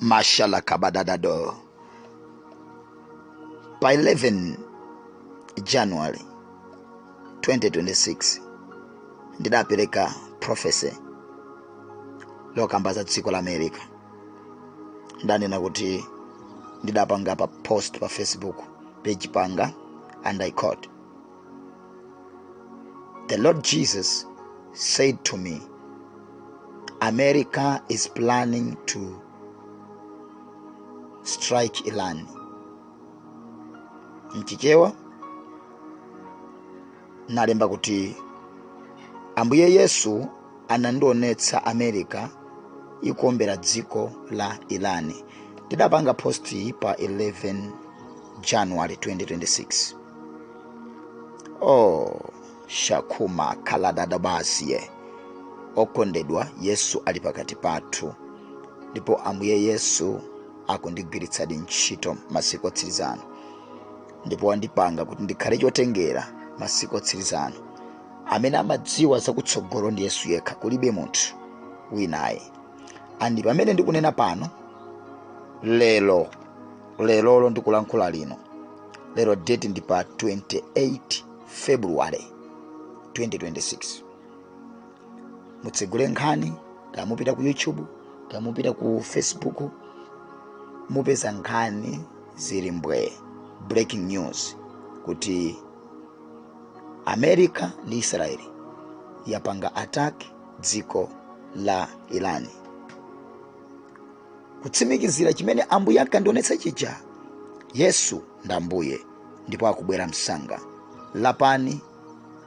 Mashallah Kabadadado. By 11 January 2026 ndidapereka prophecy lokamba za dziko la America. Ndanena kuti ndidapanga pa post pa Facebook page panga and I quote The Lord Jesus said to me, America is planning to strike Iran. Mchichewa nalemba kuti Ambuye Yesu anandionetsa America ikuombera dziko la Iran. Ndidapanga post iyi pa 11 January 2026. oh shakuma kaladadabasiye okondedwa yesu ali pakati pathu ndipo ambuye yesu akundigwiritsadi ntchito masiku otsiriza ano ndipo andipanga kuti ndikhale chotengera masiku otsiriza ano amene amadziwa zakutsogolo ndi yesu yekha kulibe munthu winayi andi pamene ndikunena pano lero lerolo ndikulankhula lino lero date ndi pa 28 february 2026 mutsegule nkhani kaya mupita ku youtube kaya mupita ku facebook mupeza nkhani zili mbwee breaking news kuti america ndi israeli yapanga attack dziko la iran kutsimikizira chimene ambuye ankandionetsa chija yesu ndi ambuye ndipo akubwera msanga lapani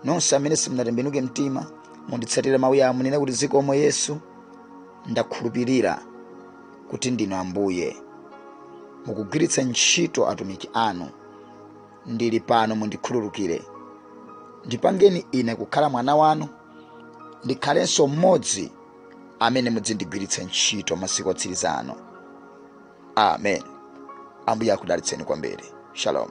nonse amene simunatembenuke mtima munditsatire mawu awa munene kuti zikomo yesu ndakhulupirira kuti ndinu ambuye mukugwiritsa ntchito atumiki anu ndili pano mundikhululukire ndipangeni ine kukhala mwana wanu ndikhalenso mmodzi amene mudzindigwiritsa ntchito masiku otsiriza ano amen ambuye akudalitseni kwambiri shalom